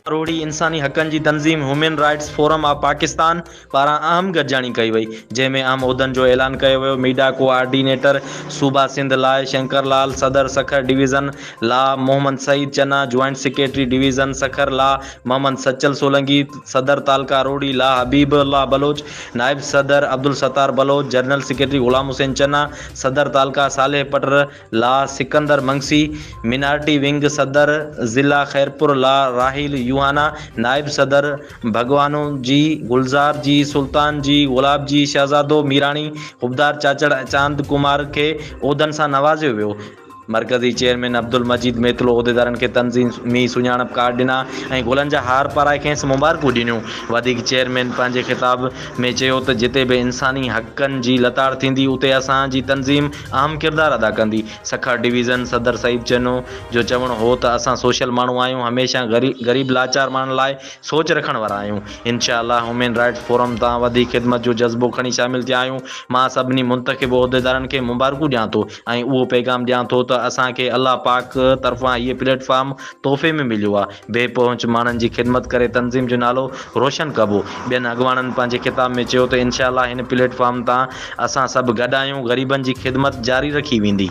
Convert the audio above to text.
اروڙي انساني حقن جي تنظيم human rights forum of Pakistan پاران اهم گڏجاڻي ڪئي وئي جنهن ۾ اهم عهدن جو اعلان ڪيو ويو ميڊا ڪو آرڊينيٽر صوبا سنڌ لاء شنڪر لال صدر سکر ڊويزن لا Muhammad Saeed Channa joint secretary division Sukkur لا محمد سچل سولنگي، صدر تعلقه روھڙي لاء حبيب الله بلوچ، نائب صدر عبدالستار بلوچ، جنرل سيڪريٽري غلام حسين چنا، صدر تعلقه صالح پٽر لاء سڪندر منگسي، مينارٽي ونگ صدر ضلع خيرپور لاء راحيل يوحنا، نائب صدر ڀڳوانو جي، گلزار جي، سلطان جي، گلاب جي، شھزادو ميراڻي، حبدار چاچڙ ۽ چاند ڪمار کي عھدن سان نوازيو ويو. مرڪزي چيئرمين عبدالمجيد ميتلو عهديدارن کي تنظيمي سڃاڻپ ڪارڊ ڏنا ۽ گلن جا هار پارائي کيس مبارڪون ڏنيون. وڌيڪ چيئرمين پنهنجي خطاب ۾ چيو ته جتي به انساني حقن جي لتاڙ ٿيندي اتي اسان جي تنظيم اهم ڪردار ادا ڪندي. سکر ڊويزن صدر سعيد چنو جو چوڻ هو ته اسان سوشل ماڻهو آهيون هميشه غريب لاچار ماڻهن لاء سوچ رکڻ وارا آهيون. انشاء الله هيومن رائٽس فورم تان وڌيڪ خدمت جو جذبو کڻي شامل ٿيا آهيون. مان سڀني منتخب عهديدارن کي مبارڪون ڏيان ٿو. ۽ اهو پيغام ڏيان ٿو ته اسان کي الله پاڪ طرفان هيء پليٽ فارم تحفي ۾ مليو آهي. بي پهچ ماڻهن جي خدمت ڪري تنظيم جو نالو روشن ڪبو. ٻين اڳواڻن پنهنجي خطاب ۾ چيو ته انشاء الله هن پليٽ فارم تان اسان سڀ گڏ آهيون، غريبن جي خدمت جاري رکي ويندي.